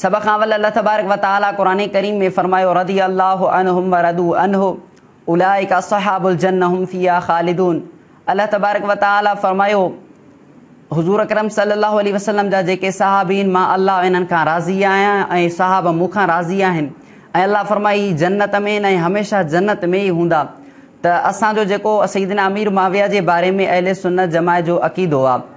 سڀ کان اول الله تبارڪ و تعالي قرآن ڪريم ۾ فرمايو رضي الله عنهم ورضو عنه اولئک اصحاب الجنة هم فيها خالدون الله تبارڪ و تعالي فرمايو حضور اڪرم صلي الله عليه وسلم جا جيڪي صحابين مان الله انهن کان راضي آهيان ۽ صحابه مون کان راضي آهن ۽ الله فرمائي هي جنت ۾ ۽ هميشه جنت ۾ ئي هوندا ته اسان جو جيڪو سيدنا امير معاويه جي باري ۾ اهل سنت جماعت جو عقيدو آهي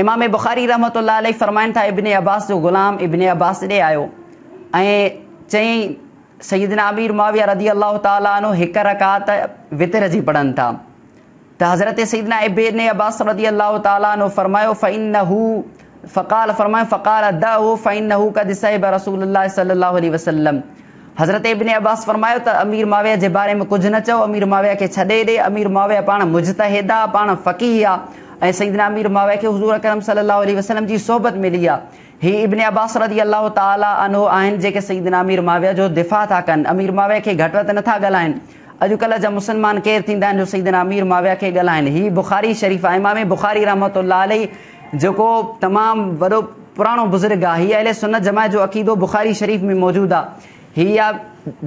امام بخاري رحمة الله عليه فرمائن ٿا ابن عباس جو غلام ابن عباس ڏي آيو ۽ چيائين سيدنا امير معاويه رضي الله تعالي عنه هڪ رڪعت وتر جي پڙهن ٿا ته حضرت سيدنا ابن عباس رضي الله تعالي عنه فرمايو فانه فقال فرمائن فقال دعه فانه قد صحب رسول الله صلي الله عليه وسلم حضرت ابن عباس فرمايو ته امير معاويه جي باري ۾ ڪجهه نه چئو، امير معاويه کي ڇڏي ڏي، امير معاويه پاڻ مجتهد آ، پاڻ فقيه آ ۽ سيدنا امير معاويه کي حضور اڪرم صلي الله عليه وسلم جي صحبت ملي آ. هي ابن عباس رضي الله تعالٰي عنه آهن جيڪي سيدنا امير معاويه جو دفاع ٿا ڪن، امير معاويه کي گهٽ وڌ نه ٿا ڳالهائن. اڄڪلهه جا مسلمان ڪير ٿيندا آهن جو سيدنا امير معاويه کي ڳالهائن. هي بخاري شريف آ، امام بخاري رحمة الله عليه جيڪو تمام وڏو پراڻو بزرگ آ هي اهل سنت جماعت جو عقيدو بخاري شريف ۾ موجود آ هي آ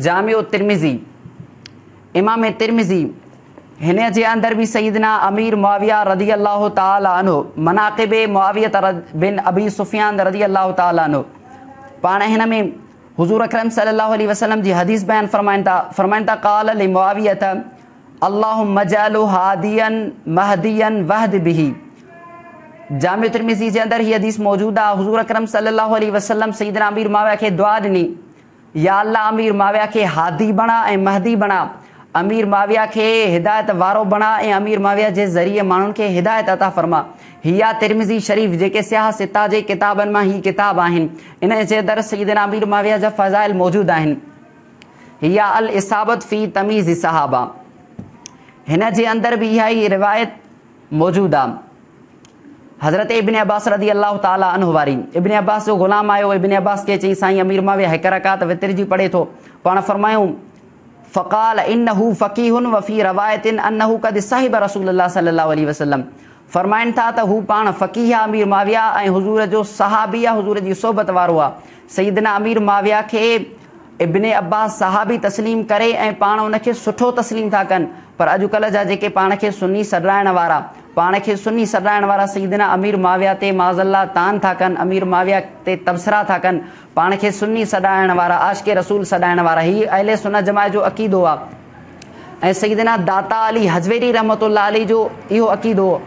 جامع الترمذي امام ترمذي هن جي اندر به سيدنا امير معاويه رضي الله تعالي عنه مناقب معاويه بن ابي سفيان رضي الله تعالي عنه پاڻ هن ۾ حضور اڪرم صلي الله عليه وسلم جي حديث بيان فرمائن ٿا فرمائن ٿا قال لمعاويه اللهم اجعله هاديا مهديا واهد به. جامع ترمذي جي اندر هي حديث موجود آ حضور اڪرم صلي الله عليه وسلم سيدنا امير معاويه کي دعا ڏني يا الله امير معاويه کي هادي بڻا ۽ مهدي بڻا امير معاويه کي هدايت وارو بڻا ۽ امير معاويه جي ذريعي ماڻهن کي هدايت عطا فرما هي آ ترمذي شريف جيڪي سياح سته جي ڪتابن مان هي ڪتاب آهن انهن جي اندر سيدنا امير معاويه جا فضائل موجود آهن. هي آ الاصابة في تميز الصحابة هن جي اندر به اها ئي روايت موجود آ حضرت ابن عباس رضي الله تعالي عنه واري ابن عباس جو غلام آيو ابن عباس کي چئي سائين امير معاويه هڪ رڪعت وتر جي پڙهي ٿو پاڻ فرمايون فقال انه فقيه وفي روايه انه قد صحب رسول الله صلي الله عليه وسلم فرمائن ٿا ته هو پاڻ فقيه آ امير معاويه ۽ حضور جو صحابي آ حضور جي صحبت وارو آ سيدنا امير معاويه کي ابن عباس صحابي تسليم ڪري ۽ پاڻ ان کي سٺو تسليم ٿا ڪن پر اڄ ڪلهه جا جيڪي پاڻ کي سني سڏرائڻ وارا پاڻ کي سني سڏرائڻ وارا سيدنا امير معاويه تي معاذ الله طعن ٿا ڪن امير معاويه تي تبصرا ٿا ڪن پاڻ کي سني سڏرائڻ وارا عاشق رسول سڏائڻ وارا هي اهل سنه جماعت جو عقيدو آ. ۽ سيدنا داتا علي هزويري رحمة الله عليه جو اهو عقيدو هو.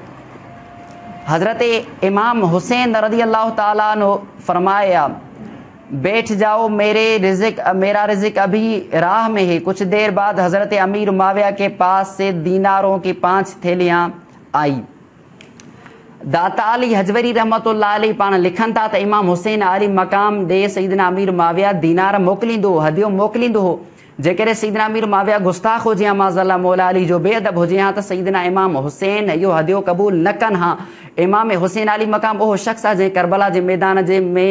حضرت امام حسين رضي الله تعالٰي عنه فرمايا، بيٺ جائو ميري رزق ميرا رزق ابھی راھ مين هي ڪچھ دير بعد حضرت امير معاويه ڪي پاس سي دينارون ڪي پانچ ٿيليان آئي. داتا علي هزويري رحمة الله عليه پاڻ لکن ٿا ته امام حسين عالي مقام ڏي سيدنا امير معاويه دينار موڪليندو هو هديو موڪليندو هو. جيڪڏهن سيدنا امير معاويه گستاخ هجي ها معاذ الله مولا علي جو بي ادب هجي ها ته سيدنا امام حسين اهو هديو قبول نه ڪن ها امام حسين عالي مقام اهو شخص آهي جنهن ڪربلا جي ميدان جي ۾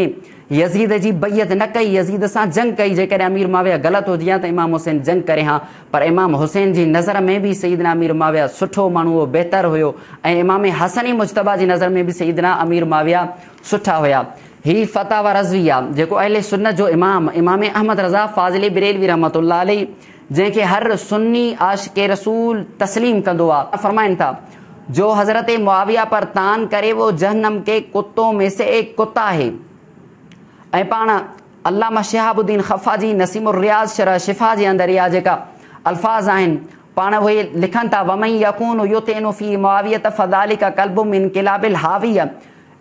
يزيد جي بيعت نه ڪئي يزيد سان جنگ ڪئي جيڪڏهن امير معاويه غلط هجي ها ته امام حسين جنگ ڪري ها پر امام حسين جي نظر ۾ به سيدنا امير معاويه سٺو ماڻهو هو بهتر هيو ۽ امام حسن مجتبيٰ جي نظر ۾ به سيدنا امير معاويه سٺا هيا. هي فتاويٰ رضويه جيڪو اهل سنت جو امام امام احمد رضا فاضلي بريلوي رحمة الله عليه جنهن کي هر سني عاشق رسول تسليم ڪندو آ، فرمائن ٿا، جو حضرت معاويه پر طعن ڪري وو جهنم ڪي ڪتو مين سي ايڪ ڪتا هي ۽ پاڻ علامه شهاب الدين خفاجي نسيم الرياض شرح شفا جي اندر اها جيڪا الفاظ آهن پاڻ اهي لکن ٿا ومن يڪون يطعن في معاويه فذلڪ ڪلب من ڪلاب الهاويه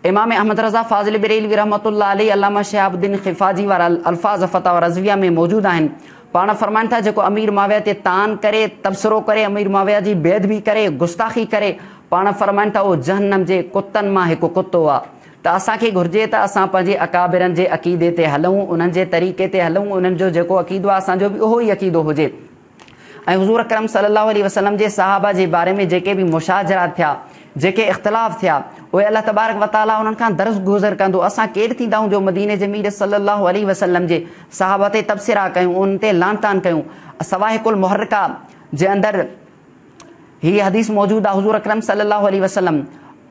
امام احمد رضا فاضل بريلوي رحمة الله عليه علامه شهاب الدين خفاجي وارا الفاظ فتاويٰ رضويه ۾ موجود آهن. پاڻ فرمائن ٿا، جيڪو امير معاويه تي طعن ڪري، تبصرو ڪري، امير معاويه جي بي ادبي ڪري، گستاخي ڪري، پاڻ فرمائن ٿا، اهو جهنم جي ڪتن مان هڪ ڪتو آ. ته اسان کي گهرجي ته اسان پنهنجي اڪابرن جي عقيدي تي هلون، انهن جي طريقي تي هلون، انهن جو جيڪو عقيدو آ، اسان جو به اهو ئي عقيدو هجي. ۽ حضور اڪرم صلي الله عليه وسلم جي صحابه جي باري ۾ جيڪي به مشاجرا ٿيا، جيڪي اختلاف ٿيا، اهي الله تبارڪ و تعاليٰ انهن کان درس گذر ڪندو، اسان ڪير ٿيندا آهيون جو مديني جي مير صلي الله عليه وسلم جي صحابه تي تبصرا ڪيون، انهن تي لعن طعن ڪيون. الصواعق المحرقه جي اندر هي حديث موجود آهي، حضور اڪرم صلي الله عليه وسلم.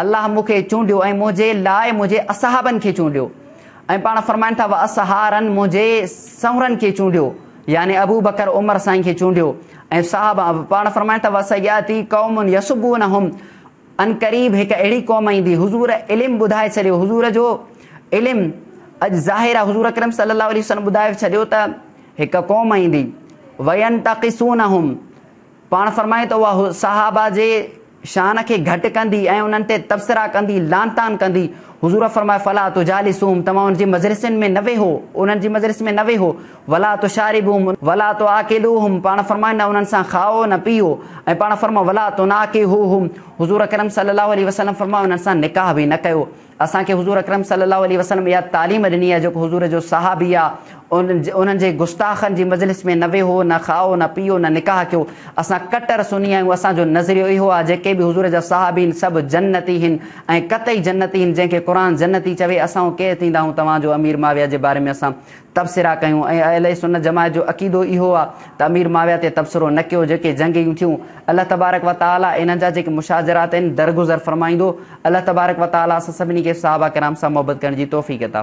الله مون کي چونڊيو ۽ منهنجي لاء منهنجي اصحابن کي چونڊيو ۽ پاڻ فرمائن ٿا واصحارن منهنجي سنورن کي چونڊيو يعني ابوبڪر عمر سائين کي چونڊيو ۽ صحابا پاڻ فرمائن ٿا وسياتي قوم يسبونهم عنقريب هڪ اهڙي قوم ايندي حضور علم ٻڌائي ڇڏيو حضور جو علم اڄ ظاهر آهي حضور اڪرم صلي الله عليه وسلم ٻڌائي ڇڏيو ته هڪ قوم ايندي وينتقصونهم پاڻ فرمائي ته اها صحابه جي شان کي گهٽ ڪندي ۽ انهن تي تبصرا ڪندي، لعن طعن ڪندي. حضور فرمايو، فلا تجالسوهم، توهان انهن جي مجلسن ۾ نه ويهو، انهن جي مجلس ۾ نه ويهو، ولا تشاربوهم، ولا تعاقلوهم، پاڻ فرمائي نه انهن سان کائو نه پيئو ۽ پاڻ فرمائي، ولا تناڪحوهم، حضور اڪرم صلي الله عليه وسلم فرمايو، انهن سان نڪاح به نه ڪيو. اسان کي حضور اڪرم صلي الله عليه وسلم اها تعليم ڏني آهي جيڪو حضور جو صحابي آ انهن جي گستاخن جي مجلس ۾ نه ويهو نه کائو نه پيئو نه نڪاح ڪيو اسان ڪٽر سني آهيون اسان جو نظريو اهو آ جيڪي به حضور جا صحابي هن سڀ جنتي هن ۽ قطعي جنتي هن جنهن کي قرآن جنتي چوي اسان ڪير ٿينداهون توهان جو امير معاويه جي باري ۾ اسان تبصرا ڪيون ۽ اهل سنت جماعت جو عقيدو اهو آ ته امير معاويه تي تبصرو نه ڪيو جيڪي جنگيون ٿيون الله تبارڪ و تعالي انهن جا جيڪي مشاجرات آهن درگذر فرمائيندو الله تبارڪ و تعالي اسان سڀني کي صحابه ڪرام سان محبت ڪرڻ جي توفيق عطا